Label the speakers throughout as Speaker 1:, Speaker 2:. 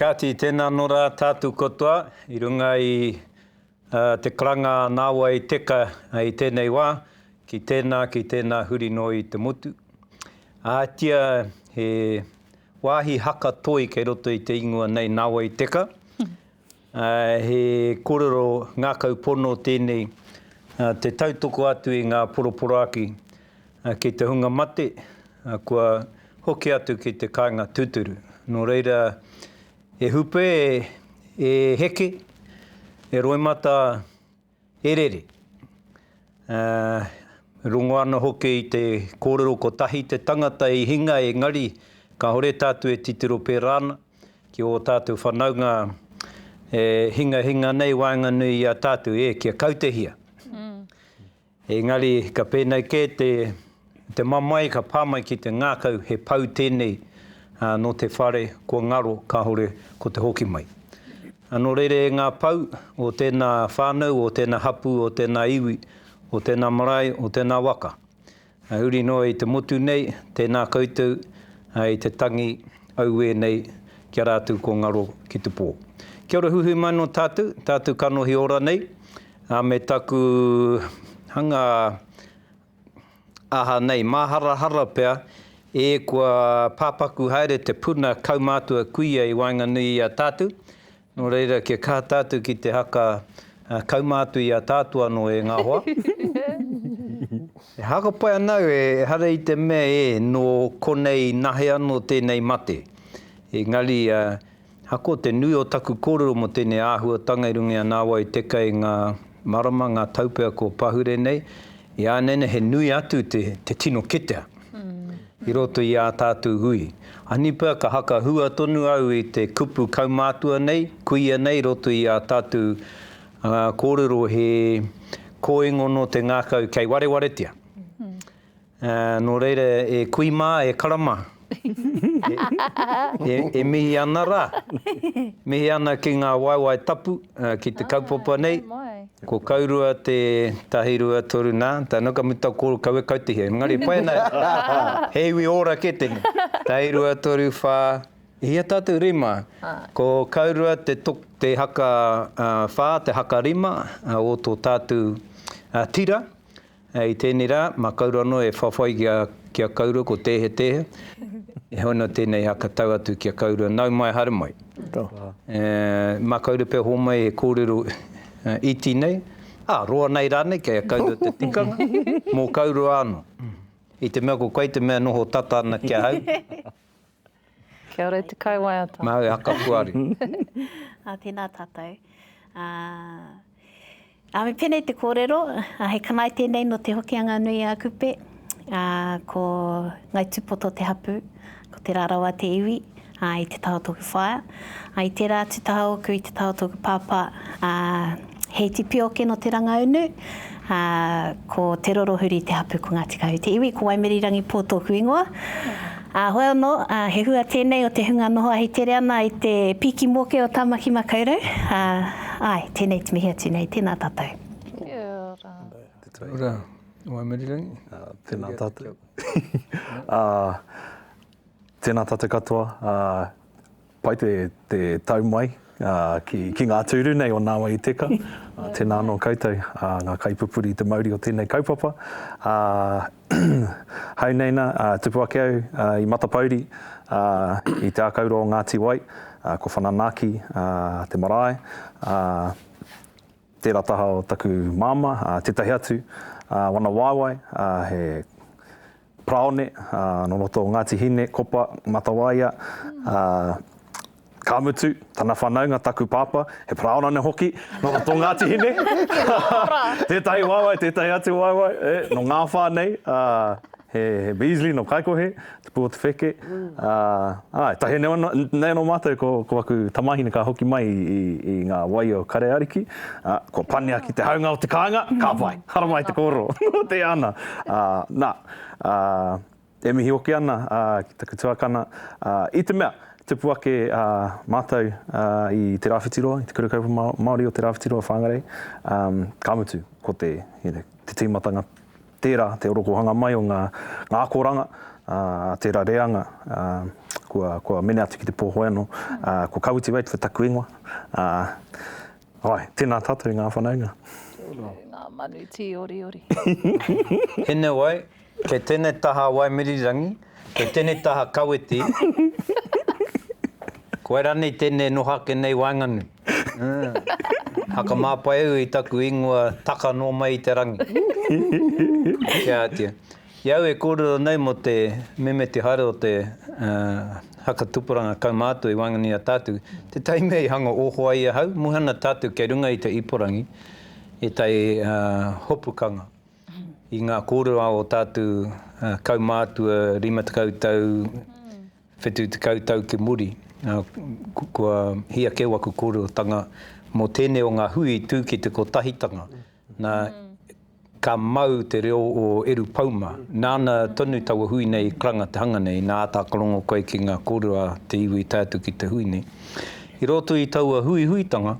Speaker 1: Kāti, tēnā anō rā tātou katoa i runga i te karanga a Nāwai Teka i tēnei wā, ki tēnā, ki tēnā huri noa i te motu. Ātia he wāhi haka toi kei roto i te ingoa nei Nāwai Teka, He kōrero ngākau pono tēnei, te tautoko atu i ngā poroporoaki ki te hunga mate, kua hoki atu ki te kāinga tūturu. Nō reira, e hupe, e heke, e roimata. He rere. Aa, rongo ana hoki i te kōrero kotahi te tangata i hinga engari kahore tātou e titiro pērā ana ki ō tātou whanaunga e hingahinga nei waenganui i a tātou, e, kia kautehia. Engari ka pēnei kē te. Te mamae ka pā mai ki te ngākau he pou tēnei nō te whare kua ngaro kāore ko te hoki mai. Nō reira e ngā pou o tēnā whānau, o tēnā hapū, o tēnā iwi, o tēnā marae, o tēnā waka, huri noa i te motu nei, tēnā koutou i te tangi auē nei ki a rātou kua ngaro ki te pō. Kia ora huhui mai nō tātou, tātou kanohi ora nei me taku hanga. aha nei, māharahara pea, ē, kua pāpaku haere te puna kaumātua kuia i waenganui i a tātou, nō reira kia kaha tātou ki te haka kaumātua i a tātou anō e ngā hoa. E haka pai ana au ehara i te mea ē, nō konei nahe anō tēnei mate, engari, Ako, te nui o taku kōrero mō tēnei āhuatanga i runga i a Nāwai Te Kei ngā marama, ngā taupea kua pahure nei, i a nei nei he nui atu te te tino ketea i roto i ā tātou hui. Anipa ka hakahua tonu au i te kupu kaumātua nei, kuia nei i roto i ā tātou kōrero he kōingono te ngākau kei warewaretia. Ā, nō reira e kui mā, e karama. E mihi ana rā. Mihi ana ki ngā waewae tapu, ki te kaupapa nei. Ko Kaurua te tahi rua toru nā, tēnā ka mutu ko Kaue Kautihia. Engari e pai ana, he iwi ora kē tēnei. Tahi rua toru whā, i hea tātou rima? Ko Kaurua te haka whā, te haka rima o tō tātou tira. I tēnei rā, mā Kauru anō e whawhai ki a, ki a Kauru ko Tēhetehe. E hoi anō tēnei hā ka tau atu ki a Kauru, nau mai, haere mai. E, mā Kauru pea hōmai he kōrero iti nei, ā, roa nei rānei kei a Kauru te tikanga, mō Kauru anō. I te mea ko koe te mea noho tata ana ki ahau.
Speaker 2: Kia ora e te kaiwaiata. Nā au e haka puari.
Speaker 1: Ā,
Speaker 3: tēnā tātou. Ā, ā, me pēnei te kōrero, ā, he kanae tēnei nō Te Hokianga nui a Kupe, ā, ko Ngai Tūpoto te hapū, ko Te Rarawa te iwi, ā, i te taha o tōku whaea. I tērā atu taha ōku i te taha o tōku pāpā, ā, he iti pioke nō Te Rangaunu, ā, ko Te Rorohuri te hapū ko Ngāti Kahu te iwi, ko Waimerirangipo tōku ingoa. Ā, hoi anō, ā, he hua tēnei o te hunga noho ahi tere ana i te pīki moke o Tāmaki Makaurau, ā, āe, tēnei te mihi atu nei, tēnā tātou. Kia ora.
Speaker 2: Kia ora,
Speaker 1: Waimerirangi. Tēnā
Speaker 4: tātou. Ā. Tēnā tātou katoa, pai te tau mai ki ngā tūru nei o Nāwai i Teka. Tēnā anō koutou ngā kaipupuri i te mauri o tēnei kaupapa. Hau nei nā, tupu ake au i Matapouri, i Te Ākaurua o Ngāti Wai, ko Whananaki te marae, tērā taha o taku māmā, tētahi atu wana waewae, he Paraone, nō roto o Ngāti Hine, Kopa, Matawaia, ka mutu, tana whanaunga, taku pāpā, he paraona nō hoki, nō roto o Ngāti Hine, tētahi waewae, tētahi atu waewae, e, nō Ngāwhā nei, ā, he, he Beasley nō Kaikohe, tupu o Te Wheke, ā, āe, tahi nei anō, nei anō mātou ko, ko aku tamāhine ka hoki mai i, i, i ngā wai o Kareariki, ā, kua panea ki te haunga o te kāinga, ka pai! Haramai te kōrero, noatia ana. Na, e mihi hoki ana ki taku tuakana, i te mea, tupu ake mātou i te Rāwhitiroa, i te Kura Kaupapa Māori o te Rāwhitiroa Whāngarei, ka mutu, ko te tīmatanga tērā, te orokohanga mai o ngā akoranga, tērā reanga, kua mene atu ki te pōhoi anō, ko Kawiti Radcliffe taku ingoa. Ae, tena tatou nga whanaunga. Tena nga
Speaker 2: manu tii oriori.
Speaker 1: Inaway, kei tenei taha Waimirirangi, kei tenei taha Kawiti, koe ranei tenei noho ake nei waenganui. Hakamāpai au i taku ingoa taka no mai i te rangi. Kiatia. I au e kōrero nei mō te meme te haere o te haka tupuranga kaumātua i waenganui i a tātou, tētahi mea i hanga oho ai ahau, muhe ana tātou kei runga i te ipurangi, i tai hopukanga, i ngā kōrero a o tātou kaumātua rima tekau tau, whetū tekau tau ki muri, kua hia keu aku kōrerotanga mō tēnei o ngā hui i tū ki te kotahitanga. Na, ka mau te reo o Eru Pauma. Nāna tonu taua hui nei i karanga te hanga nei, nā āta karongo koe ki ngā kōrero a te iwi i tae atu ki te hui nei. I roto i taua huihuitanga,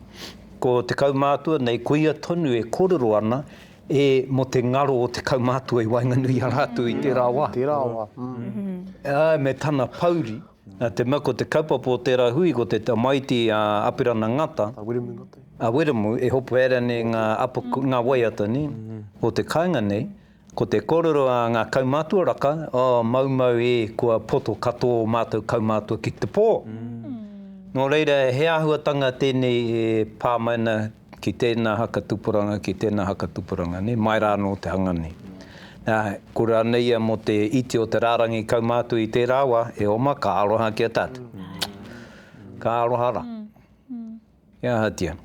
Speaker 1: ko te kaumātua nei, ko ia tonu e kōrero ana e mō te ngaro o te kaumātua i waenganui i a rātou i tērā wā. Tērā wā. Āe me tana pouri. Nā te mea ko te kaupapa o tērā hui ko te tamaiti a Apirana Ngata, a Wiremu, e hopu haere nei ngā apo, ngā waiata nei, o te kāinga nei, ko te kōrero a ngā kaumātua raka, oh, maumau e, kua poto katoa o mātou kaumātua ki te pō. Nō reira, he āhuatanga tēnei e pā mai ana ki tēnā haka tupuranga, ki tēnā haka tupuranga, nē, mai rā anō te hanga nei. Nā, ko rānei ia mō te iti o te rārangi kaumātua i tērā wā, e oma, ka aroha ki a tātou. Ka aroha rā. Kia ahatia.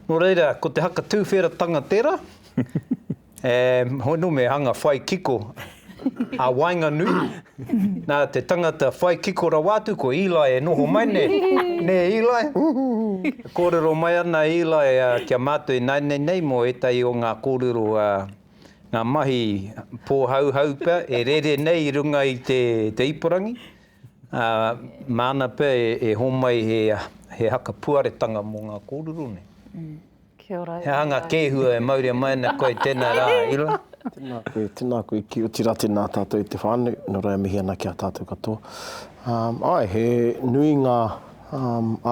Speaker 1: Nō reira, ko te haka tūwheratanga tērā. E hono me hanga whai kiko a waenganui. Na te tangata whai kiko rawa atu ko Eli e noho mai ne, ne Eli? E korero mai ana a Eli ki a matou i nainei nei mo etahi o nga korero a nga mahi pohauhau pea e rere nei i runga i te te ipurangi. A mana pea e homai he he haka puaretanga mo nga korero nei. Kia
Speaker 2: ora e He hanga kēhua e
Speaker 1: mauria mai ana koe tēnā rā, Ira. Tēnā koe, tēnā
Speaker 5: koe ki otira tēnā tātou i te whānau, nō reira mihi ana ki a tātou katoa. Āe, he nui ngā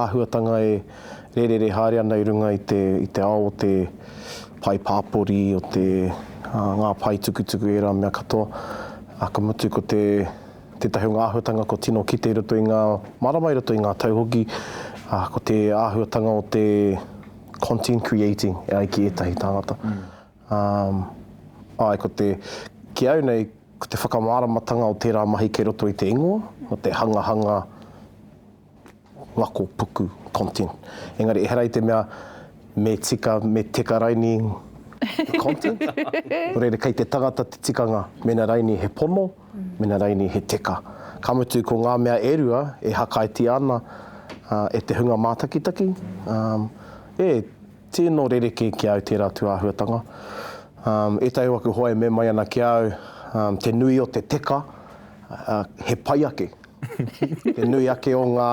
Speaker 5: āhuatanga e rērere haere ana i runga i te, i te ao o te pae pāpori, o te, ngā pae tukutuku, ērā mea katoa. Ka mutu ko te. Tētahi o ngā āhuatanga kua tino kite i roto i ngā marama, i roto i ngā tau hoki, ko te āhuatanga o te content creating e ai ki ētahi tāngata. Āe, ko te, ki au nei, ko te whakamāramatanga o tērā mahi kei roto i te ingoa, o te hangahanga Ngakopuku, content. Engari ehara i te mea me tika, me teka raini te content. Nō reira, kei te tangata te tikanga mēnā raini he pono, mēnā raini he teka. Ka mutu, ko ngā mea e rua e hakaetia ana e te hunga mātakitaki, e, tino rerekē ki a au tērā tūāhuatanga. Ētahi o aku hoa e mea mai ana ki a au, te nui o te teka, he pai ake. Te nui ake o ngā,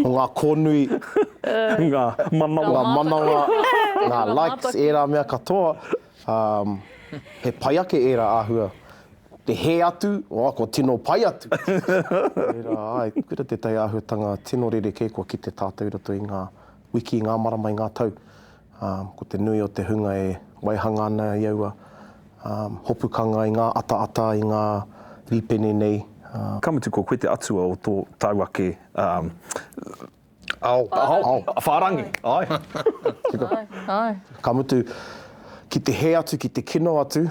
Speaker 5: o ngā kōnui, Ngā manawa. ngā manawa, ngā likes, ērā mea katoa, ā, he pai ake ērā āhua. Te hē atu, oh, kua tino pai atu. Tērā, āe, kura tētahi āhuatanga tino rerekē kua kite tātou i roto i ngā wiki, i ngā marama, i ngā tau. ā, ko te nui o te hunga e waihanga ana i aua hopukanga, i ngā ataata, i ngā rīpene nei, ā. Ka mutu ko koe
Speaker 4: te atua o tō tāu ake, ā, ao, ao, whārangi, āe. Tika.
Speaker 2: Āe. Ka mutu,
Speaker 5: ki te hē atu, ki te kino atu,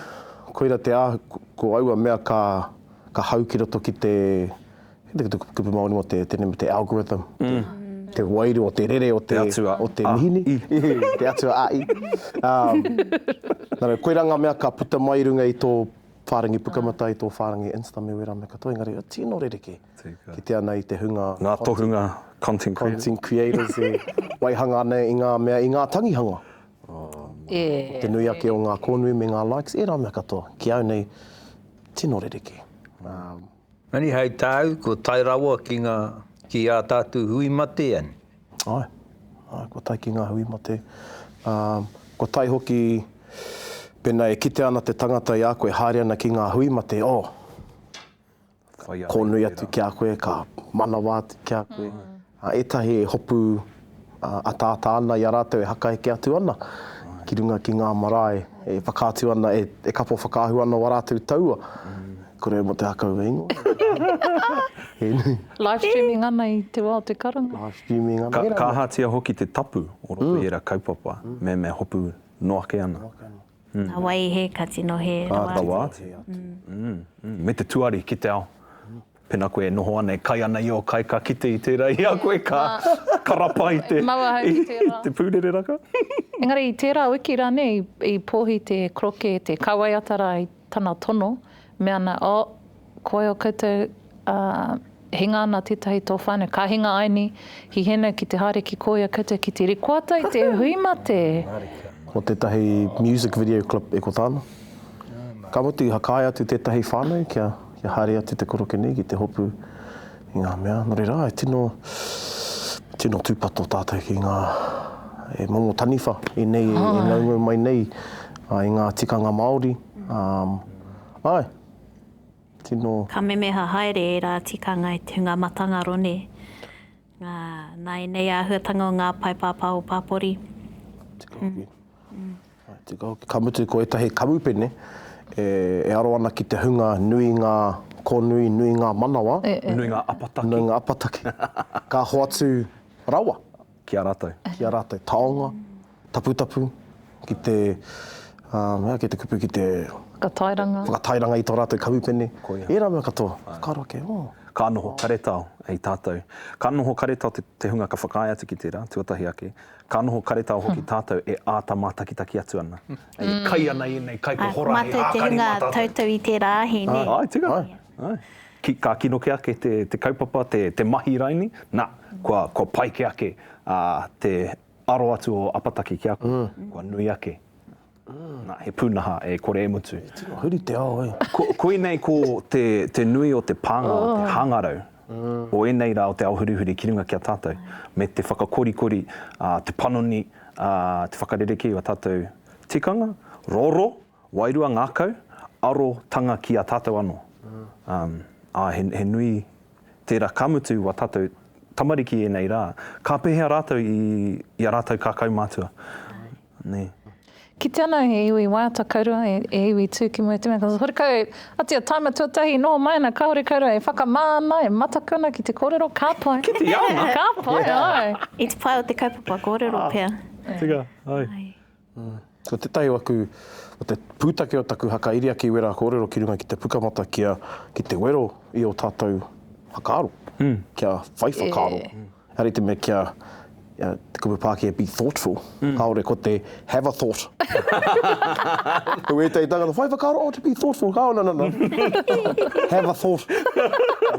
Speaker 5: koira te āhua, ko aua mea ka hau ki roto ki te. te kupu Māori mō te, tēnei mō te algorithm, mm te wairua, te rere o te, te atua o te mihini, te atua a i. Um, nara, koe rā ngā mea ka puta mai runga i tō whārangi pukamata, i tō whārangi Insta me wērā me katoa, engari o tino rereke ki te ana i te hunga... Ngā tohunga
Speaker 4: content creators. Content creators e
Speaker 5: waihanga ana i ngā mea, i ngā tangihanga. Oh, e, te nui ake o ngā kōnui me ngā likes, e rā mea katoa. Ki au nei, tino rereke. Um,
Speaker 1: Engari hei tāu, kua tae rawa ki ngā, ki ā tātou hui mate, āe. Āe,
Speaker 5: āe, kua tae ki ngā hui mate, ā, kua tae hoki, pēnā e kitea ana te tangata i a koe e haere ana ki ngā hui mate, oh, kōnui atu ki a koe, ka manawa atu ki a koe. Ā, ētahi e hopu ataata ana i a rātou e hakaheke atu ana ki runga ki ngā marae e whakaatu ana, e kapo whakaahua ana wā rātou taua, Kore mō te hakau e ingoa.
Speaker 2: Live streaming ana i te wā o te karanga. Live streaming ana.
Speaker 5: Ka ahatia hoki te
Speaker 4: tapu o roto i ērā kaupapa me me hopu noa ake ana? Nā wai
Speaker 3: he ka tino hē rawa atu? Rawa atu.
Speaker 4: Me te tuari ki te ao. Pena koe e noho ana e kai ana i o kai ka kite i tera i a koe ka karapa i te i te purere raka. Engari i tera
Speaker 2: wiki ranei i pohi te kroke te kawaiata ra i tana tono me ana oh koe o koutou a hinga ana tetahi to whanau ka hinga ai ni hi henau ki te haere ki koia koutou ki te rikoata i te hui mate. Ko
Speaker 5: tetahi music video clip e ko tana. Ka mutu i hakae atu tetahi whanau kia. kia haere atu te koroke nei ki te hopu i ngā mea, nō reira, e tino, tino tūpato tātou ki ngā e momo taniwha i nei, e ngaungau mai nei i ngā tikanga Māori. Um, ai, tino... Ka memeha
Speaker 3: haere ērā tikanga i te hunga matangaro, nē? Ā, nā ēnei āhuatanga o ngā pae pāpā o Pāpori. Tika hoki.
Speaker 5: Tika hoki. Ka mutu ko ētahi kamupene e aro ana ki te hunga nui ngā kōnui, nui ngā manawa. Nui ngā apataki.
Speaker 4: Nui ngā apataki.
Speaker 5: Ka hoatu rawa. Ki a rātou.
Speaker 4: Ki a rātou. Taonga.
Speaker 5: Taputapu, ki te, ā, ki te kupu ki te. Whakatairanga. Whakatairanga i tō rātou kamupene. Ko ia. Ērā mea katoa. Āe. Whakaaro ake, ō. Ka noho
Speaker 4: karetao e tātou. Ka noho karetao te, te hunga ka whakaae atu ki tērā, tuatahi ake. Ka noho karetao hoki tātou e āta mātakitaki atu ana. E kai ana i ēnei kai, ko Hora he ākari mā tātou. Āe, ko mātou te hunga toutou
Speaker 3: i tērā ahi, nē? Āe, tērā. Āe. Āe.
Speaker 4: Ki, ka kino kē ake te, te kaupapa, te, te mahi raini, nā, kua, kua pai kē ake, ā, te, aro atu o Apataki ki a koe, kua nui ake. Na, he pūnaha e kore e mutu. He tino huri te ao, e.
Speaker 5: Ko, koinei ko
Speaker 4: te, te nui o te pānga o te hangarau o ēnei rā o te ao hurihuri ki runga ki a tātou, me te whakakorikori, te panoni, te whakarerekē o a tātou tikanga, roro, Wairua ngakau, aro tanga ki a tatou ano. A, a, he, he nui tera ka mutu wa tatou tamariki enei ra, ka pehea ratou i, i a ratou ka kaumatua? Ne. Kite
Speaker 2: ana he iwi waiata kaurua, he iwi tu ki mua i te mea, ka horekau atu a Taima tuatahi, noho mai ana kahore kaurua e whakama ana, e mataku ana ki te korero, ka pai. Kite ana! Ka
Speaker 4: pai, ai.
Speaker 2: I te pae o te
Speaker 3: kaupapa korero pea. Tika, ai.
Speaker 4: Ko
Speaker 5: tētahi o aku, ko te pūtake o taku haka iria ki wera kōrero ki runga ki te pukamata kia, ki te wero i o tātou whakaaro, kia whai whakaaro, ka rite me kia, te kupu Pākehā be thoughtful, kāore ko te have a thought. Ko wētahi tangata, whai whakaaro, oh to be thoughtful, oh no, no, no, have a thought.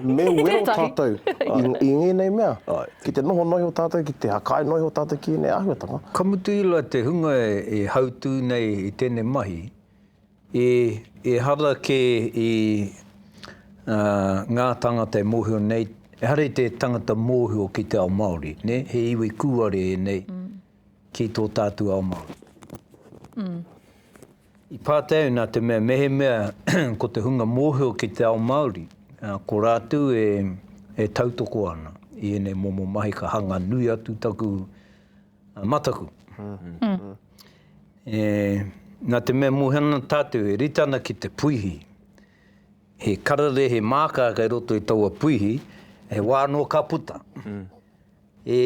Speaker 5: Me wero tātou i ngēnei mea. Ki te noho noiho tātou, ki te hakae noiho tātou ki ēnei āhuatanga. Ka mutu i la te
Speaker 1: hunga e hautū nei i tēnei mahi, e, ehara kē i, ā, ngā tāngata e mōhio nei, ehara i te tangata mōhio ki te ao Māori, nē, he iwi kūare ēnei ki tō tātou ao Māori. I pātai au nā te mea mehemea ko te hunga mōhio ki te ao Māori, ko rātou e tautoko ana i ēnei momo mahi ka hanga nui atu taku mataku. Nā te mea mōhio ana tātou e rite ana ki te puihi, he kararehe mākā kei roto i taua puihi, he wā anō ka puta. E,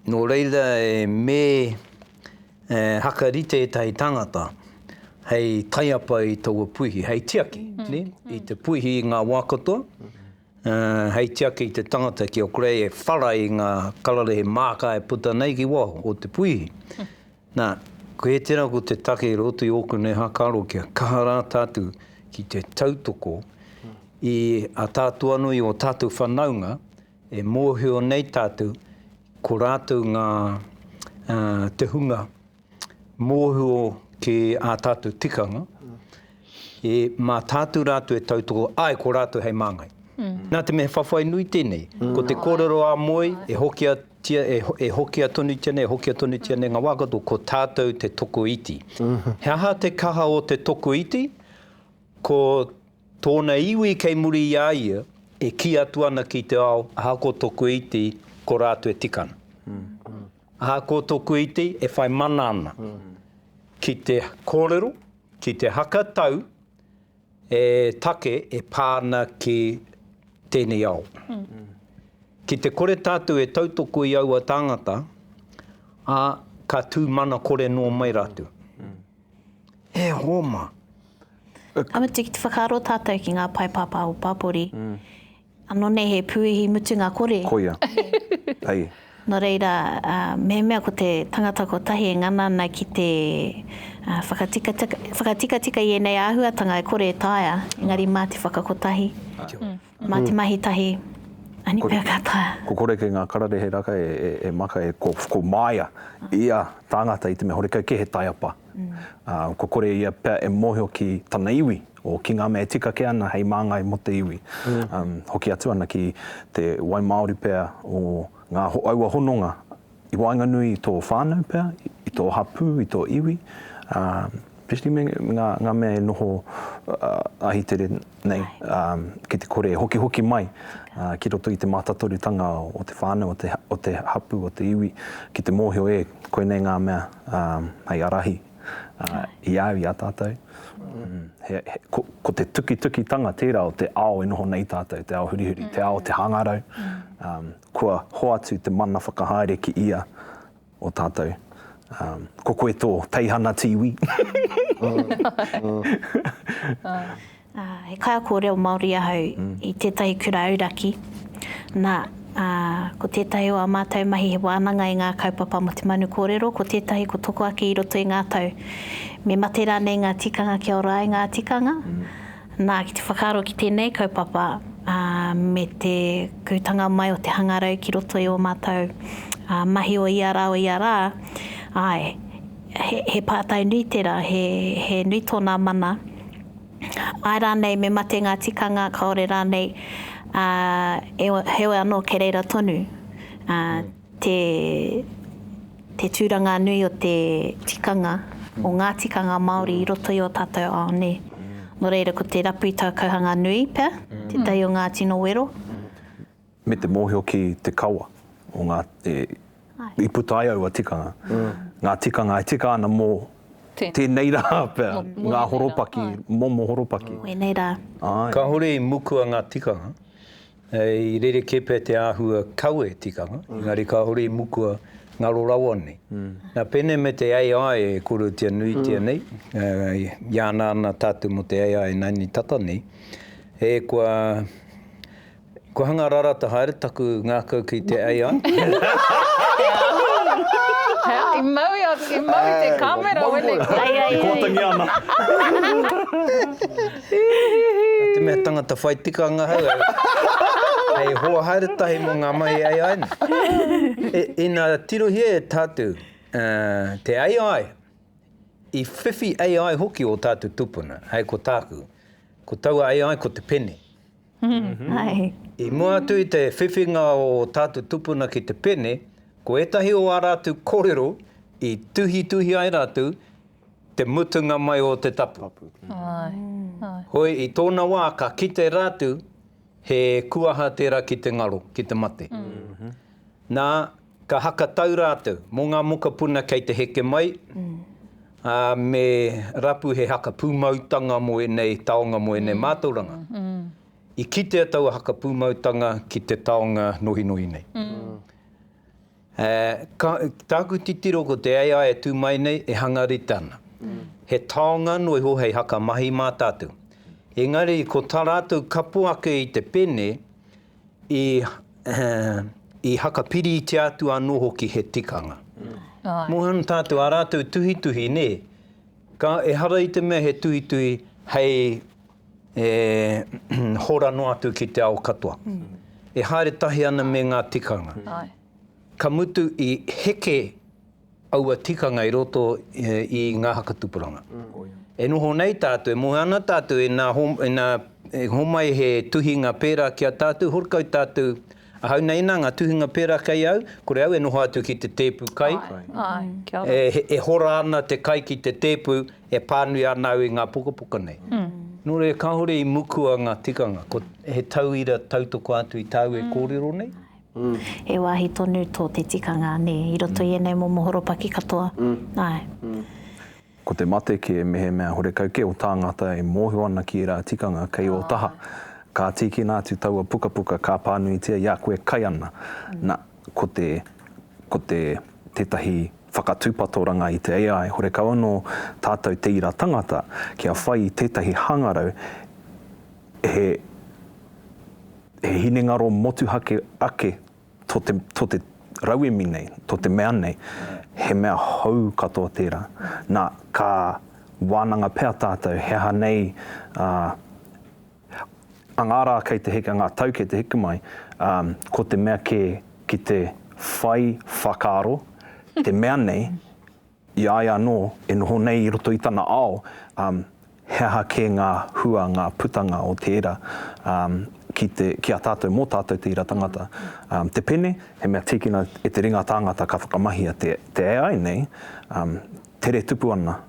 Speaker 1: nō reira e me hakarite ētahi tāngata hei taiapa i taua puihi, hei tiaki i te puihi i ngā wā katoa, hei tiaki i te tangata ki a Gray e whara i ngā kararehe māka e puta nei ki waho o te puihi. Nā, koe tērā ko te take i roto i ōku nei hākaro kia kaha rā tātou ki te tautoko i a tātou anō i ō tātou whanaunga E mōhio nei tātou, ko rātou ngā, ā, te hunga mōhio ki ā tātou tikanga, e, mā tātou rātou e tautoko, āe, ko rātou hei māngai. Nā te mea he whawhai nui tēnei, ko te kōrero a Moe, e hokiatia, e, e hokia tonutia nei, e hokia tonutia nei ngā wā katoa, ko tātou te tokoiti. He aha te kaha o te tokoiti? Ko tōna iwi kei muri i a ia e kī atu ana ki te ao, ahakoa toku iti, ko rātou e tika ana. Ahakoa toku iti, e whai mana ana ki te kōrero, ki te haka tau e take e pā ana ki tēnei ao. Ki te kore tātou e tautoko i aua tāngata, ā, ka tū mana kore noa mai rātou. He hōma. Ka
Speaker 3: mutu ki te whakaaro tātou ki ngā pae pāpā o Pāpori, anō nei he pūihi mutunga kore. Koia.
Speaker 4: Hei. Nō reira,
Speaker 3: mehemea ko te tangata kotahi e ngana ana ki te whakatikatika i ēnei āhuatanga e kore e taea, engari mā te whakakotahi. Mā te mahi tahi a Nipea ka taea. Ko Koreke ngā kararehe
Speaker 4: raka e maka e ko Maia ia tāngata i te mea horekau kē he taiapa. Kua kore ia pea e mōhio ki tana iwi, o ki ngā mea e tika kē ana hei māngai mō te iwi. Hoki atu ana ki te wai māori pea o ngā aua hononga. i waenganui i tō whānau pea, i tō hapū, i tō iwi, especially me ngā mea e noho ahitere nei, ki te kore e hokihoki mai ki roto i te mātatoretanga o te whānau, o te hapū, o te iwi, ki te mōhio e, koinei ngā mea hei ārahi i a au, i a tātou. Ko te tukitukitanga tērā o te ao e noho nei tātou, te ao hurihuri, te ao o te hangarau, Kua hoatu te mana whakahaere ki ia o tātou. Ko koe tō teihana te iwi.
Speaker 3: He kaiako reo Māori ahau i tētahi kura auraki. Nā, ko tētahi o ā mātou mahi he wānanga i ngā kaupapa mō te manu kōrero, ko tētahi ko toko ake i roto i ngā tau. Me mate rānei ngā tikanga kia ora ai ngā tikanga? Nā, ki te whakaaro ki tēnei kaupapa, ā, me te kūtanga mai o te hangarau ki roto i ō mātou, ā, mahi o ia rā, o ia rā, āe, he, he pātai nui tērā, he, he nui tōnā mana. Āe rānei, me mate ngā tikanga, kāore rānei, ā, e, heoi anō kei reira tonu, ā, Te Te tūranga nui o te tikanga, o ngā tikanga Māori i roto i ō tātou ao nei. Nō reira, ko te rapu i tau kauhanga nui pea, tētahi o ngā tino wero. Me
Speaker 4: te mōhio ki te kawa o ngā e, i puta ai aua tikanga, ngā tikanga e tika ana mō tēnei rā pea, ngā horopaki, momo horopaki. Wēnei rā.
Speaker 3: Āe. Kāore i
Speaker 1: mukua ngā tikanga, Hei rerekē pea te āhua kawe tikanga, engari kāore i mukua ngaro rawa nei. Nā, pēnei me te AI e korotia nuitia nei, i ana ana tātou mō te AI ināianei tata nei, e kua, kua hanga rarata haere taku ngākau ki te AI.
Speaker 2: I mau i mau i te kāmera weneti. E kōtangi
Speaker 4: ana.
Speaker 1: Nā te mea tangata whai tikanga ahau, hei hoa haere tahi mō ngā mahi AI nei. Ina tirohia e tātou te AI, i whiwhi AI hoki ō tātou tūpuna, hei ko tāku, ko taua AI ko te pene. I mua atu i te whiwhinga o tātou tūpuna ki te pene, ko ētahi o ā rātou kōrero i tuhituhi ai rātou, te mutunga mai o te tapu. Hoi, i tōna wā ka kite rātu he kuaha tērā ki te ngaro, ki te mate. Nā, ka hakatau rātou mō ngā mokapuna kei te heke mai, ā, me rapu he haka pūmautanga mō ēnei taonga, mō ēnei mātauranga. I kitea taua haka pūmautanga ki te taonga nohinohi nei. Ā, ka, tāku titiro ko te AI e tū mai nei e hanga rite ana. He taonga anō iho hei haka mahi mā tātou. Engari ko tā rātou kapo ake i te pene i, i haka piritia atu anō hoki he tikanga. Mō ana tātou ā rātou tuhituhi, nē, ka, ehara i te mea he tuhituhi hei, e hora noa atu ki te ao katoa. E haere tahi ana me ngā tikanga. Ka mutu i heke aua tikanga i roto i ngā haka tupuranga. E noho nei tātou, e moe ana tātou, ina homai he tuhinga pērā ki a tātou, horekau tātou, Ahau nei nā ngā tuhinga pērā kei au, kore au e noho atu ki te tēpu kai. E hora ana te kai ki te tēpu, e pānui ana au i ngā pukapuka nei. Nō reira kāore i mukua ngā tikanga, ko he tauira tautoko atu i tāu e kōrero nei? He wāhi
Speaker 3: tonu tō te tikanga, nē, i roto i ēnei momo horopaki katoa, āe.
Speaker 4: Ko te mate kē mehemea horekau kē o tāngata e mōhio ana ki ērā tikanga kei ō taha. Ka tīkina atu taua pukapuka ka pānuitia i a koe kai ana. Na, ko te, ko te, tētahi whakatūpatoranga i te AI, horekau anō tātou te ira tangata kia whai i tētahi hangarau he, he hinengaro motuhake ake to te, to te rauemi nei, to te mea nei, he mea hou katoa tērā. Nā, ka wānanga pea tātou he aha nei, ā, a ngā rā kei te heke, a ngā tau kei te heke mai, ā, ko te mea kē ki te whai whakaaro, te mea nei, I a ia anō e noho nei i roto i tana ao, ā, he aha kē ngā hua, ngā putanga o tērā, ā, ki te, ki a tātou, mō tātou te ira tangata. Ā, te pene, he mea tīkina e te ringa tāngata ka whakamahia te, te AI nei, ā, tere tupu ana,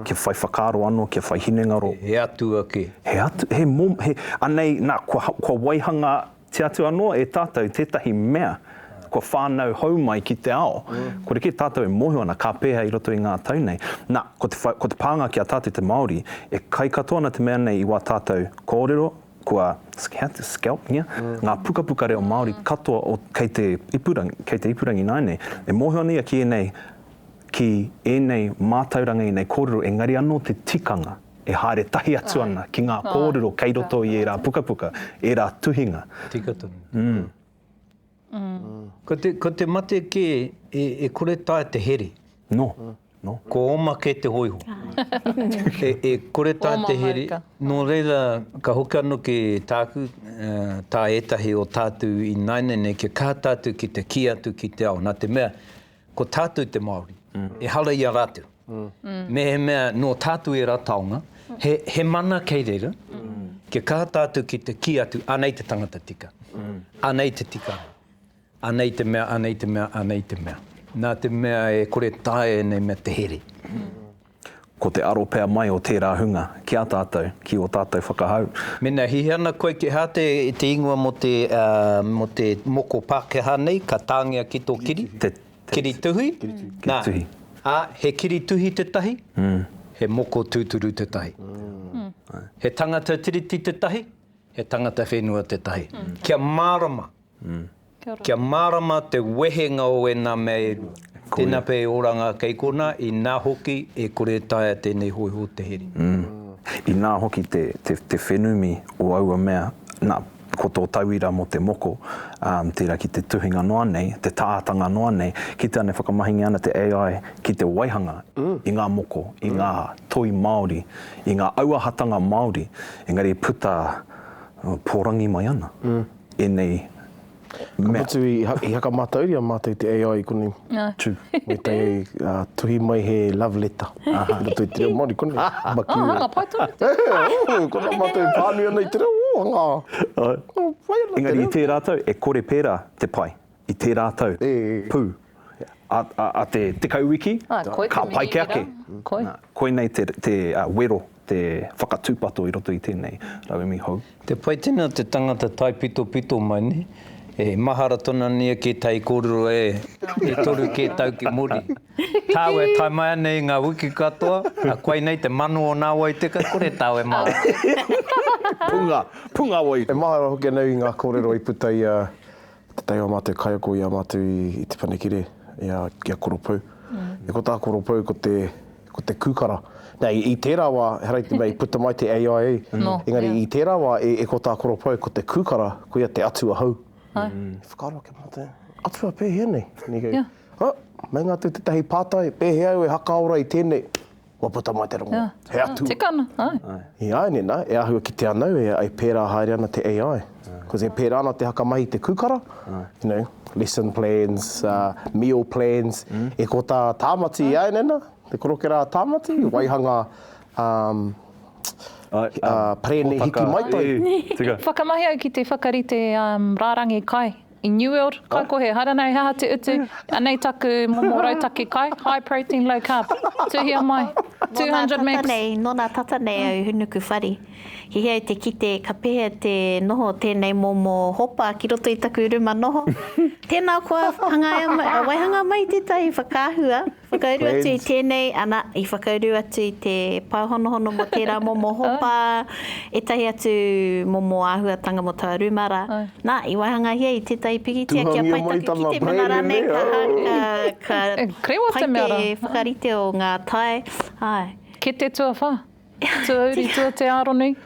Speaker 4: kia whai whakaaro anō, kia whai hinengaro. He atua kē.
Speaker 1: He atu, he mom, he,
Speaker 4: anei, nā, kua, kua waihanga Kī atu anō e tātou tētahi mea kua whānau hou mai ki te ao. Kua rite tātou e mōhio ana ka pēhea i roto i ngā tau nei. Nā, ko te whai, ko te pānga ki a tātou te Māori, e kai katoa ana te mea nei i wā tātou kōrero, kua scat, scalp, ngia, ngā pukapuka reo Māori katoa o, kei te ipurangi, kei te ipurangi ināinei. E mōhio ana ia ki ēnei, ki ēnei mātauranga, ēnei kōrero, engari anō te tikanga. E haere tahi atu ana ki ngā kōrero kei roto i ērā pukapuka, ērā tuhinga. Tika tonu.
Speaker 1: Ko te mate kē e kore tae te here. Nō,
Speaker 4: nō. Ko oma
Speaker 1: kē te hōiho. E kore tae te here. Oma mōika. Nō reira, ka hoki anō ki tāku, tā ētahi o tātou ināianei nei, kia kaha tātou ki te kī atu ki te ao. Nā te mea, Ko tātou te Māori, ehara i a rātou. Mehemea nō tātou ērā taonga, he mana kei reira, kia kaha tātou ki te kī atu, anei te tangata tika, anei te tikanga, anei te mea, anei te mea, anei te mea. Nā te mea e kore taea ēnei mea te here.
Speaker 4: Ko te aro pea mai o tērā hunga ki a tātou, ki ō tātou whakahau. Mēnā he ana
Speaker 1: koikehā te ingoa mō te mō te moko Pākehā nei, ka tāngia ki tō kiri, kiri tuhi, nā, ā, he kiri tuhi tētahi, he moko tūturu tētahi. He tangata Tiriti tētahi, he tangata whenua tētahi. Kia mārama. Kia mārama te wehenga o ēnā mea e rua. Tēnā pea e oranga kei konā, inā hoki e kore e taea tēnei hōiho te here. Inā
Speaker 4: hoki te whenumi o aua mea, nā, ko tō tauira mō te moko, tērā ki te tuhinga noa nei, te tātanga noa nei, kite ana e whakamahingia ana te AI ki te waihanga i ngā moko, i ngā toi Māori, i ngā auahatanga Māori, engari e puta pōrangi mai ana. ēnei mea. Ka
Speaker 5: mutu i hakamatauria mātou te AI i konei. True. Me
Speaker 4: te
Speaker 5: tuhi mai he love letter i roto i te reo Māori konei. Oh, hanga pai tonu
Speaker 2: te reo. Ko rā
Speaker 5: mātou e pānui ana i te reo, oh, hanga pai ana te reo. Engari i
Speaker 4: tērā tau, e kore pērā te pai. i tērā tau, pū, a te tekau wiki, ka paike ake. Koinei te wero, te whakatūpato i roto i tēnei rauemi hou. Te pai tēnā te
Speaker 1: tangata taipitopito mai nei, e mahara tona nei ki tai kōrero e toru kē tau ki muri. Tāu e tae mai ana i ngā wiki katoa, a koinei te mano o nā wai teka kore tāu e mahara. Punga,
Speaker 5: punga wai. E mahara hoki ana i ngā kōrero i puta i a Te tai o a mātou kaiako i a mātou i Te Whanakere, i a, i a Koropou. E ko tā Koropou ko te, ko te kūkara. Nā, i, i tērā wā, he ara i te mea i puta mai te AIA, engari i tērā wā e, e ko tā Koropou ko te kūkara, koia te atua hou. I whakaaro ake mātou, atua pēhea nei? Nā, meinga atu tētahi pātai, pēhea au e hakaora i tēnei? Kua puta mai te rongo. He atu. Tikana, ae.
Speaker 2: I aene na,
Speaker 5: e ahua ki te anau e ai pera haere ana te AI. Cos e pera ana te haka mahi i te kukara, you know, lesson plans, meal plans, e ko ta Tamati i aene na, te koroke ra a Tamati, waihanga pere nei hiki mai tai. Whakamahi au ki te
Speaker 2: whakarite rarangi kai. I New World, kai ko he harana he aha te utu, anei taku momo rautaki kai, high protein, low carb. Tuhia mai, 200 mgs. Nō nā tata nei, nō nā tata nei
Speaker 3: au hunu ku whare. He hea i te kite ka pehea te noho o tēnei momo hopa ki roto i taku ruma noho. Tēnā koa, hangaia mai, waihanga mai tētahi whakaahua. Whakauru atu i tēnei, ana, i whakauru atu i te pāhonohono mō tērā momo hopa, ētahi atu momo āhuatanga mō taua rūmara. Nā, i waihangahia i tētahi pikitia kia pai taku kitemana rānei, ka, ka, ka pai te whakarite o ngā tae. Āe. Kete
Speaker 2: tuawhā. Tuauri, tua te Aronui.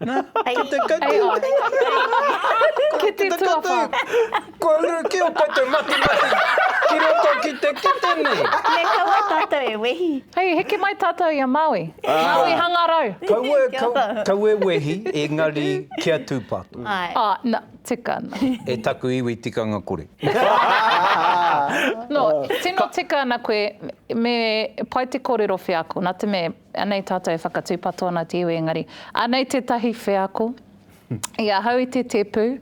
Speaker 2: Na,
Speaker 1: ki te kati.
Speaker 2: Ki te tuawha. Kua uru
Speaker 1: ki o koutou matimati ki roto ki te kete nei. Me kaua tatou
Speaker 3: e wehi. Hei, heke mai tatou
Speaker 2: i a Maui. Maui hangarau. Kaua, kaua e wehi,
Speaker 1: engari kia tupato. Ae.
Speaker 2: Tikana. E taku iwi
Speaker 1: tikanga kore.
Speaker 2: No, tino tika ana koe, me pai te korero wheako, na te mea, anei tatou e whakatupato ana te iwi engari, anei tetahi wheako, i ahau i te tepu,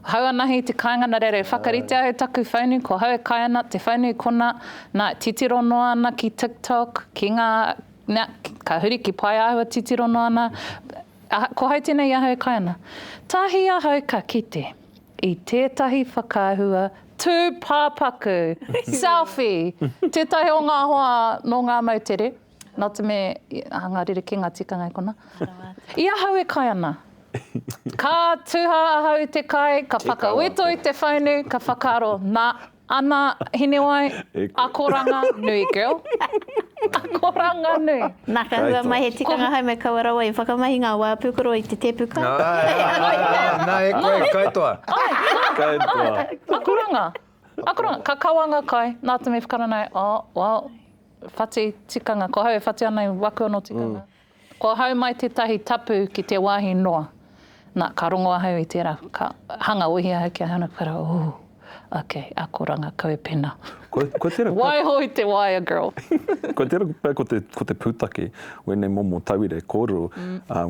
Speaker 2: hau anahi te kainga na reira e whakarite au taku whaunu ko hau e kai ana, te whaunu i kona, na, titiro noa ana ki TikTok, ki nga, na, ka huri ki Paeahua titiro noa ana, Aha, ko hau tenei ahau e kai ana. Tahi ahau ka kite i tetahi whakaahua tupapaku, selfie, tetahi o nga hoa no nga moutere, not a me, aha nga rerekenga tikanga e kona. I ahau e kai ana. Ka tuha ahau i te kai, ka whakawhito i te whaunu, ka whakaaro, na, Ana, Hinewai, akoranga nui girl. Akoranga nui. Na ka hua mai he
Speaker 3: tikanga hai me kaua rawa i whakamahi nga wa pukoro i te tepu kai.
Speaker 1: Na e koe kai toa. Kai toa. Akoranga.
Speaker 2: Akoranga. Ka kaua nga kai, na te me whakaranai, oh, well, whati tikanga, ko hau e whati ana i waku ano tikanga. Kua hau mai tētahi tapu ki te wāhi noa. Nā, ka rongo ahau i tērā, ka hanga uihi ahau ki a Hana, ka reo, Ū, ok, akoranga, kau e pēnā. Kua tērā. Waiho i te waea, girl. Kua tērā
Speaker 4: pea ko te pūtake o ēnei momo tauira e kōrero,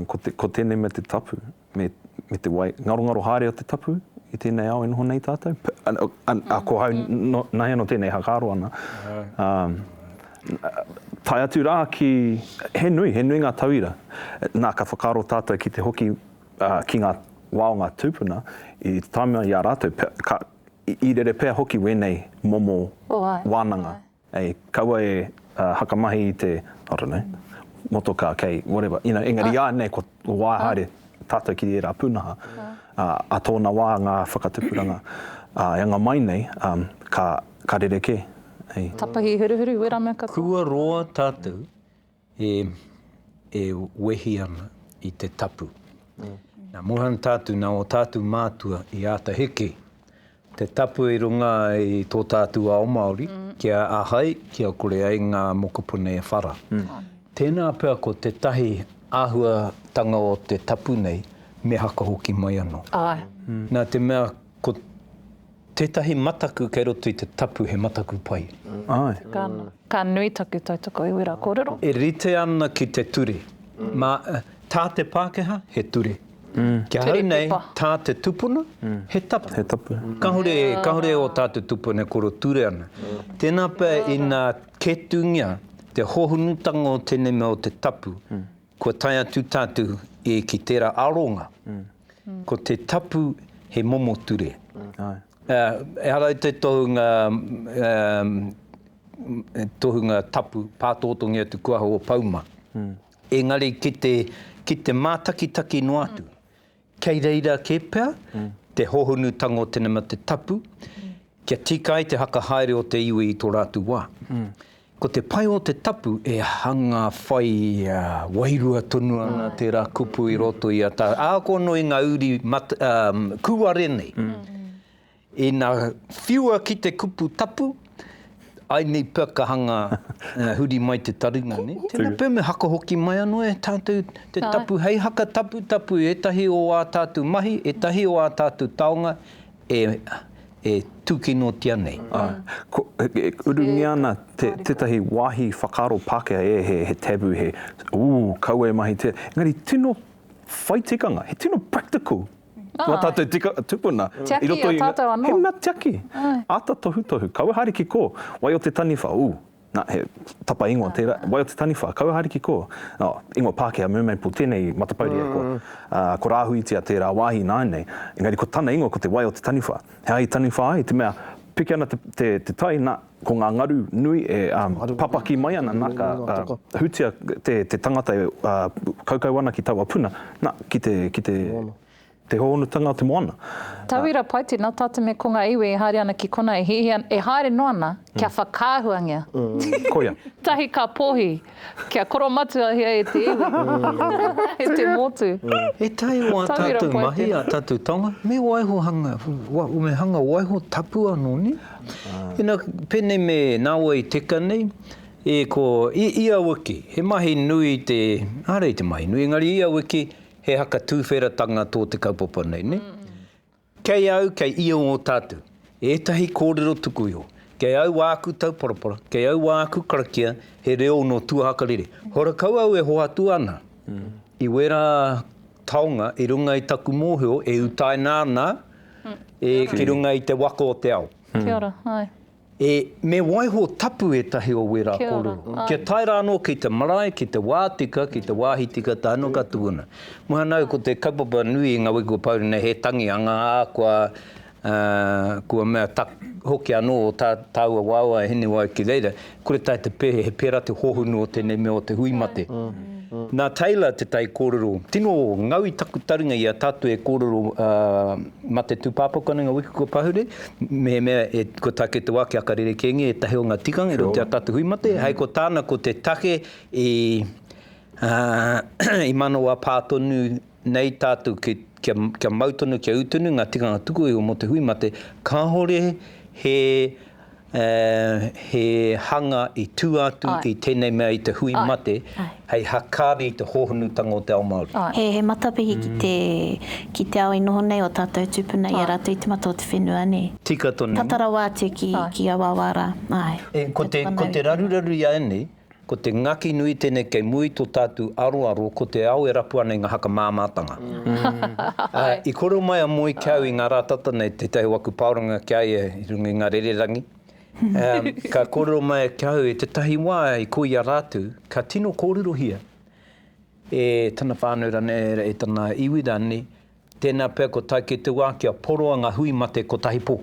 Speaker 4: ko tēnei mea te tapu. me, me te wai, ngarongaro haere o te tapu i tēnei ao e noho nei tātou. P, a, a, a, ko hau, no, nāi anō tēnei hakaaro ana. Um, tae atu rā ki, he nui, he nui ngā tauira. Nā, ka whakaaro tātou ki te hoki uh, ki ngā wā o ngā tūpuna, i te tāmea i a rātou, ka, i, i rere pea hoki wēnei momo oh, wānanga. Hey, kaua e hakamahi i te, I don't know, motokā kei whatever, you know, engari iānei kua wā haere tātou ki ērā pūnaha, ā, ā tōna wā ngā whakatupuranga, ā, e anga mai nei, ā, ka, ka rerekē, hei. Tapahi
Speaker 2: huruhuru, wera mea katoa. Kua roa tātou
Speaker 1: E, e wehi ana i te tapu. Nā Mohan tātou, nā ō tātou mātua i āta heke te tapu i runga i tō tātou ao Māori, kia ahai, kia kore ai ngā mokopuna e whara. Tēnā pea ko tētahi āhuatanga o te tapu nei, me haka hoki mai anō. Āe. Nā te mea, ko tētahi mataku kei roto i te tapu he mataku pai. Āe. Ka.
Speaker 2: Ka nui taku tautoko i wera korero. E rite ana ki
Speaker 1: te ture. Ma, ta te Pakeha, he ture. Kia hau nei, ta te tupuna, he tapu. He tapu. Kahore, kahore o ta te tupuna e koro ture ana. Tena pea ina ketungia te hohonutanga o tenei mea o te tapu, Kua tae atu tātou e ki tērā aronga, ko te tapu he momo ture. Ehara i te tohunga tohunga tapu pātōtongi atu kuaha o Pauma, engari ki te ki te mātakitaki noa atu, Kei reira kē pea te hohonutanga o te nama te tapu kia tika ai te whakahaere o te iwi i tō rātou wā. Ko te pai o te tapu e hanga whai wairua tonu ana tērā kupu i roto i a tātou. Ākono i ngā uri kūare nei. Ina whiua ki te kupu tapu, I need pekahanga huri mai te taringa, ne? Tena peme haka hoki mai ano e tatou te tapu hei haka taputapu i etahi o a tatou mahi, etahi o a tatou taonga e tukinotia nei.
Speaker 4: Urungia ana tetahi wahi whakaaro Pakeha e he taboo, he ooh, kaua e mahi te, engari tino whai tikanga, he tino practical. Ah. Nā tātou tika, tupuna. Tiaki i a tātou
Speaker 2: anō. He mea tiaki.
Speaker 4: Ai. Āta tohutohu. Kaua haere ki kō. Wai o te taniwha? Ū. Nā, he tapa ingoa tērā. Wai o te taniwha? Kaua haere ki kō. Nā, ingoa Pākehā, Mermaple, tēnei matapauri e koa. Ā, ko Rāhuitia tērā wāhi ināianei. Engari ko tana ingoa ko te wai o te taniwha. He ahi taniwha ai, te mea, piki ana te, te, te tai, nā, Ko ngā ngaru nui e papaki mai ana, nā, ka hutia te tangata e kaukau ana ki taua puna, nā, ki te hōhonutanga o te moana. Tauira, pai
Speaker 2: tēnā, tā te mea ko ngā iwi e haere ana ki konā e hiahia, e haere noa ana kia whakaahuangia. Koia.
Speaker 4: Tahi ka
Speaker 2: pōhi. Kia koromatuahia e te iwi, e te motu. E taea o a
Speaker 1: tatou mahi, a tatou taonga, me waiho hanga, me hanga waiho tapu ano ne? Ina, penei me nawe i teka nei, e ko, i ia wiki, he mahi nui te, are i te mahi nui, engari ia wiki, he haka tuwheratanga to te kaupapa nei ne? Kei au, kei ia o tātou. Ētahi kōrero tuku iho. Kei au wā aku tauparapara, kei au wā aku karakia, he reo nō tuahakarere. Horakau au e hoatu ana i wērā taonga i runga i taku mōhio e utaina ana e ki runga i te waka o te ao. Kia ora, āe.
Speaker 2: E, me
Speaker 1: waiho tapu ētahi o wērā kōrero. Kia ora. Kia tae rā anō ki te marae, ki te wā tika, ki te wāhi tika tae noa ka tukuna. Muhanau ko te kaupapa nui i nga wiki kua pau rena he tangi anga a kua kua mea tak, hoki anō tā tāua wāua e hini wai ki reira, kore tae te pē, he pērā te hohonu o tēnei mea o te hui mate. Nā Taylor te taikōrero, tino ngau i taku taringa i a tātou e kōrero Ma te tūpāpaku anei ngā wiki kua pahure, mehemea e, kua take te wā ki aka rerekēngia ētahi o ngā tikanga i roto i a tātou hui mate, hei ko tāna ko te take i, ā, i manawa pā tonu nei tātou ki, kia, kia mau tonu, kia ū tonu ngā tikanga tuku iho mō te hui mate, kāore he ā, he hanga i tū atu i tēnei mea i te hui mate hei hakaari i te hōhonutanga o te ao Māori. He matapihi
Speaker 3: ki te ao i noho nei ō tātou tūpuna i a rātou i te mata o te whenua, nē? Tika tonu. Tata rawa
Speaker 1: atu ki a wāwā
Speaker 3: rā.
Speaker 1: Ko te raruraru i a ēnei,
Speaker 3: Ko
Speaker 1: te ngaki nui tenei kei mua i to tatu aroaro ko te ao e rapu ana i nga haka māmātanga. I koro mai a Moe ki au i nga ra tata nei, tetahi o aku paoranga ki a ia i runga i nga rererangi, ka korero mai ki au i tetahi wa i ko ia ratu ka tino kōrerohia e tana whanau ranei, e tana iwi ranei, tena pea ko tai kei te wa kia poroa nga hui mate kotahi po.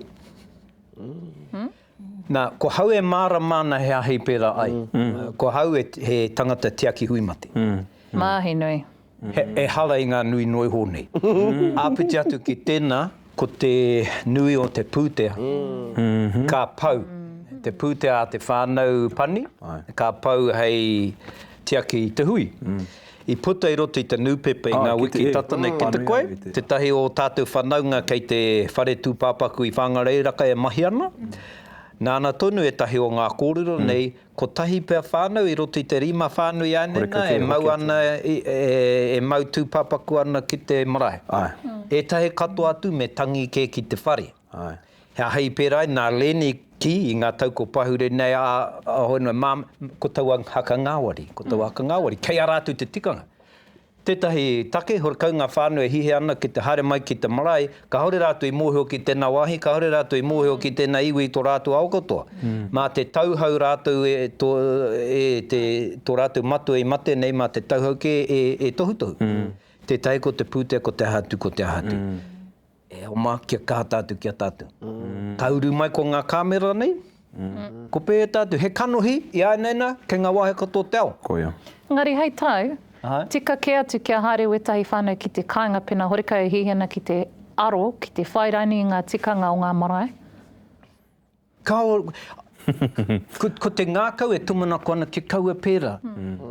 Speaker 1: Na, ko hau e mārama ana he aha i pērā ai. Ko hau e, he tangata tiaki hui mate. Māhi nui.
Speaker 2: He, ehara
Speaker 1: i ngā nui noa iho nei. Āpiti atu ki tēnā, ko te nui o te pūtea, ka pau. Te pūtea a te whānau pani, ka pau hei tiaki i te hui. I puta i roto i te nūpepa i ngā wiki tata nei. Ko te koe? Tētahi o ō tātou whanaunga kei te whare tūpāpaku i Whāngarei-raka e mahi ana. Nāna tonu ētahi o ngā kōrero nei, kotahi pea whānau i roto i te rima whānui ānena e mau ana, e mau tūpāpaku ana ki te marae. Ētahi katoa atu me tangi kē ki te whare. He aha i pērā i nā Leni ki i ngā tau kua pahure nei a Hohenoi mā ko taua haka ngāwari, ko taua haka ngāwari, kei a rātou te tikanga. Tētahi take, he kau ngā whānau e hiahia ana ki te haere mai ki te marae, kāore rātou i mōhio ki tēnā wāhi, kāore rātou i mōhio ki tēnā iwi i tō rātou ao katoa. Mā te tauhau rātou e tō rātou matua i mate nei, mā te tauhau kē e tohutohu. Tētahi ko te pūtea, ko te aha atu, ko te aha atu. E oma, kia kaha tātou ki a tātou. Ka uru mai ko ngā kāmera nei, ko pētā atu, he kanohi i āinaina kei ngā wāhi katoa o te ao. Koia. Engari hei
Speaker 4: tau,
Speaker 2: tika kē atu kia haere wētahi whānau ki te kāinga pēnā horekau e hihi ana ki te aro, ki te whai raini i ngā tikanga o ngā marae.
Speaker 1: Kaore, ko te ngākau e tumanako ana ki kaua pērā.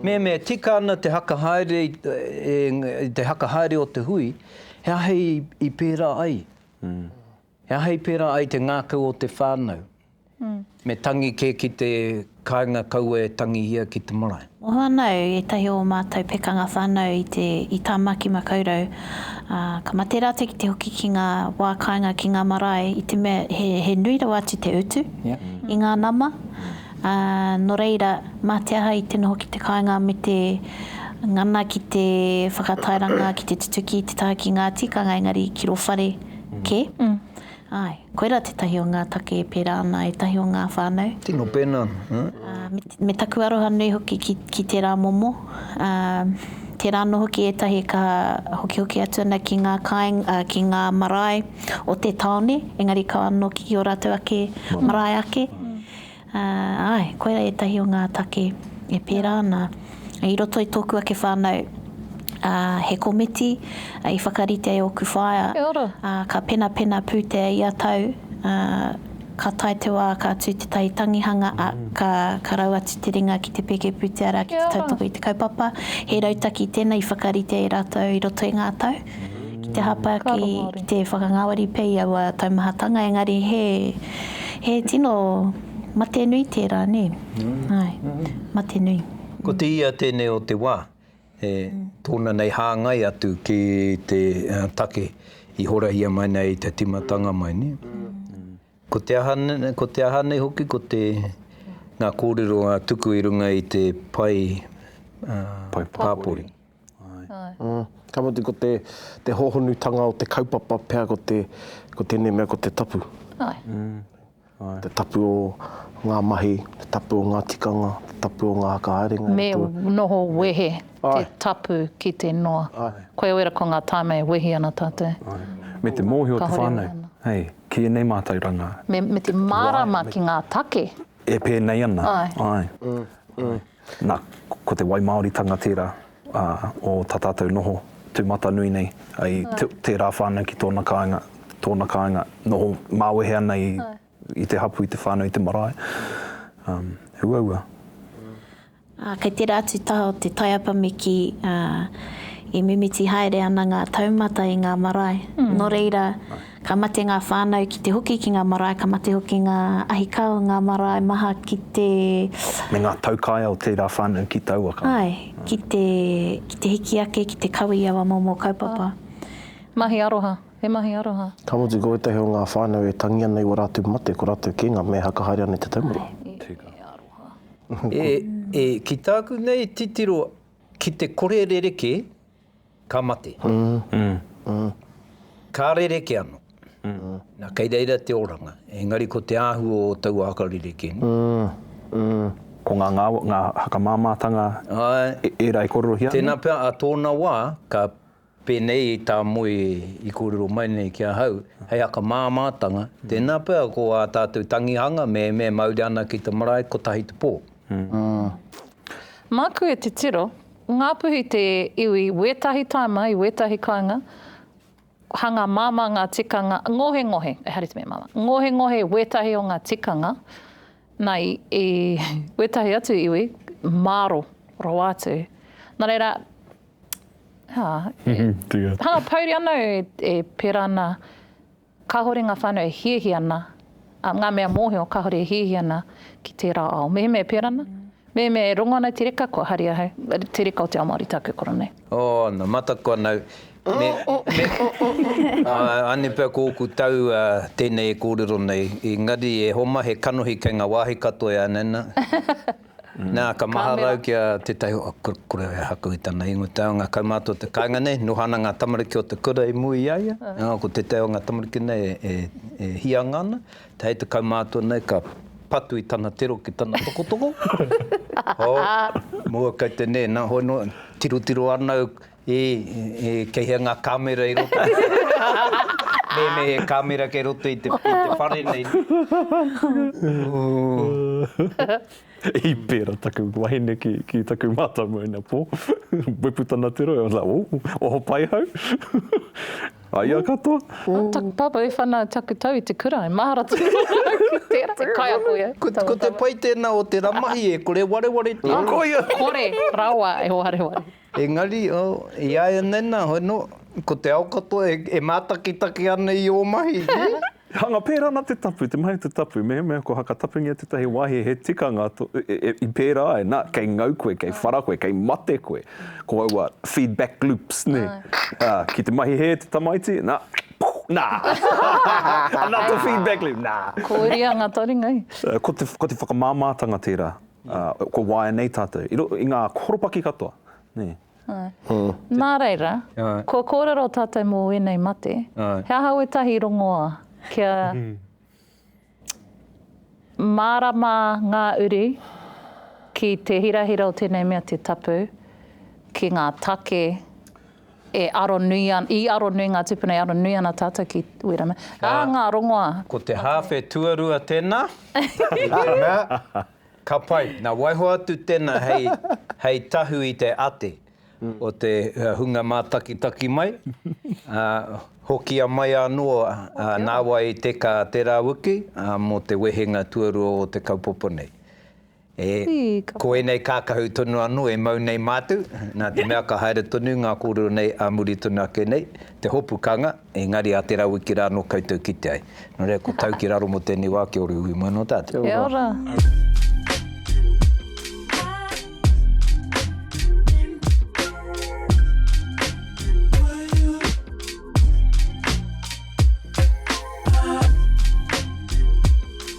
Speaker 1: Mehemea e tika ana te haka haere i te haka haere o te hui, he aha i pērā ai? He aha i pērā ai te ngākau o te whānau? Me tangi kē ki te. Kāinga kaua e tangihia ki te marae. Mohoanau, ētahi
Speaker 3: o ō mātou pekanga whānau i te, i Tāmaki Makaurau, ā, ka mate rātou ki te hoki ki ngā wā kāinga ki ngā marae i te mea he, he nui rawa atu te utu i ngā nama, ā, nō reira, mā te aha i te noho ki te kāinga me te ngana ki te whakatairanga, ki te tutuki i te taha ki ngā tikanga engari ki rō whare kē. Āe. Koirā tētahi o ngā take e pērā ana e tahi o ngā whānau. Tino pēnā,
Speaker 1: ā. Me
Speaker 3: taku aroha nui hoki ki, ki tērā momo, ā, tērā anō hoki ētahi e kaha hokihoki atu ana ki ngā kāinga, ā, ki ngā marae o te tāone, engari kaha anō ki ō rātou ake marae ake. Āe, koirā ētahi o ngā take e pērā ana i roto i tōku ake whānau, ā, he komiti i whakarite ai ōku whaea, ā, ka penapena pūtea ia tau, ā, ka tae te wā ka tū tētahi tangihanga, ā, ka, ka rau atu te ringa ki te pēke pūtea rā ki te tautoko i te kaupapa, he rautaki tēnei i whakarite e rātou i roto i ngā tau. ki te hapa ki te whakangāwari pea i aua taumahatanga, engari he, he tino mate nui tērā, nē? Āe, mate nui. Ko te ia
Speaker 1: tēnei o te wā, e tōna nei hāngai atu ki te take i horahia mai nei i te tīmatanga mai, nē? Ko te aha, ko te aha nei hoki, ko te, ngā kōrero a Tuku i runga i te pae pāpori.
Speaker 5: Āe. Ka mutu ko te, te hōhonutanga o te kaupapa pea ko te, ko tēnei mea ko te tapu. Āe. Te tapu o ngā mahi, te tapu o ngā tikanga, te tapu o ngā whakahaerenga. Me noho
Speaker 2: wehe te tapu ki te noa. Āe. Koia wera ko ngā taime e wehi ana tātou. Āe. Me te mōhio
Speaker 4: te whānau, hei, ki ēnei mātauranga. Me, me te
Speaker 2: mārama ki ngā take. E pēnei
Speaker 4: ana. Āe. Āe. Na, ko te waimāoritanga tērā o tā tātou noho tūmatanui nei, ai tērā whānau ki tōna kāinga, tōna kāinga, noho māwehe ana i te hapū, i te whānau, i te marae. He uaua.
Speaker 3: Ā, kei tērā atu taha o te taiapa me kī, ā, i mimiti haere ana ngā taumata i ngā marae. Nō reira. Ka mate ngā whānau ki te hoki ki ngā marae, ka mate hoki ngā ahikao i ngā marae maha ki te. Me ngā
Speaker 4: taukaea o tērā whānau ki taua kawa. Āe, ki te,
Speaker 3: ki te hiki ake, ki te kawe i aua momo kaupapa. Āe. Mahi
Speaker 2: aroha, he mahi aroha. Ka mutu, ko ētahi o ngā
Speaker 5: whānau e tangi ana i ō rātou mate, ko rātou kē ngā mea haka haere ana i te taumaru. Āe, e, e aroha. E, e,
Speaker 1: ki tāku nei titiro, ki te kore rerekē, Ka mate. Ka rerekē anō. Nā, kei reira te oranga. Engari ko te āhua o taua haka rerekē nei.
Speaker 4: Ko ngā ngāwari, ngā haka māmātanga ērā i kōrerohia nei? Tēnā pea, ā tōna
Speaker 1: wā, ka pēnei i tā Moe i kōrero mai nei ki ahau, hei haka māmātanga, tēnā pea ko ā tātou tangihanga me me mauri ana ki te marae kotahi te pō. Māku
Speaker 2: e titiro, Ngāpuhi te iwi wētahi tāima i wētahi kāinga, hanga māmā ngā tikanga, ngohengohe, e haere te mea māmā, ngohengohe wētahi o ngā tikanga, nā, i, i wētahi atu iwi, māro rawa atu. Nā reira, ā, e, hanga pouri ana e, e pērā ana, Kāhore ngā whānau e hiahia ana, ā, ngā mea mōhio kāhore e hiahia ana ki tērā ao. Mehemea e pērā ana, mehemea e rongo ana i te reka, kua haria ahau, te reka o te ao Māori tāku e koro nei. Oh, nā, mataku
Speaker 1: ana au. Me, me, anei pea ko ōku tau tēnei e kōrero nei, engari e Homa he kanohi kei ngā wāhi katoa e anaina. Nā, ka maharau ki a tētahi o a kura e haku i tana ingoa, te ao ngā kaumātua o te kāinga nei, noho ana ngā tamariki o te kura i mua i a ia, ā, ko tētahi o ngā tamariki nei e hianga ana, hei te kaumātua nei ka patu i tana tiro ki tana tokotoko, oh, mua kei te nē, nā, hoi noa, tirotiro ana au, E, e, kei hea ngā kāmera i roto? Mēnei he kāmera kei roto i te, i te whare nei. Ooh.
Speaker 4: I pērā taku wahine ki, ki taku mātau moena pō. Wepu tana te rohe, I was like, ooh, oho pai hau? A ia katoa. Ooh. Taku pāpā e
Speaker 2: whana taku tau i te kura, e mahara tonu ana au ki tērā, e kaiako ia. Ko, ko te pai tēnā
Speaker 1: o tērā mahi e kore wareware tonu. Koia! Kore
Speaker 2: rawa e wareware. Engari,
Speaker 1: iaianei na, hoino, ko te ao katoa e, e mātakitaki ana i ō mahi, nē? Hanga pērā
Speaker 4: ana te tapu, te mahi o te tapu, mehemea ko Hakatapungia tētahi wāhi he tikanga i pērā ai, na, kei ngau koe, kei whara koe, kei mate koe, ko aua feedback loops, nē? Ā, ki te mahi hē te tamaiti, na, puh, na! Anā tō feedback loop, na! Kōria ngā taringa,
Speaker 2: i. Ko te, ko te
Speaker 4: whakamāmātanga tērā. Kua waenei tātou, i roto i ngā horopaki katoa, nē.
Speaker 2: Nā reira, kua kōrero tātou mō wēnei mate, he aha wētahi rongoā kia mārama ngā uri ki te hirahira o tēnei mea te tapu, ki ngā take? E aro nui an, i aro nui ngā tūpuna, e aro nui ana tātou ki Wera me, ā, ngā rongoā. Ko te hāwhe
Speaker 1: tuarua tēnā. Nā, ka pai. Nā, waiho atu tēnā hei, hei tahu i te ate o te hunga mātakitaki mai, ā, hokia mai anō nāwai te kā te rāwiki mō te wehenga tuarua o te kaupapa nei. E, ko ēnei kākahu tonu anō e mau nei mātou, nā te mea ka haere tonu ngā kōrero nei ā muri tonu ake nei, te hopu kanga, engari a Te Rawiki rā anō koutou kite ai. Nō reira, ko tau
Speaker 2: ki
Speaker 1: raro mō tēnei wā, kia ora iwi mai nō tātou.
Speaker 2: Kia
Speaker 1: ora.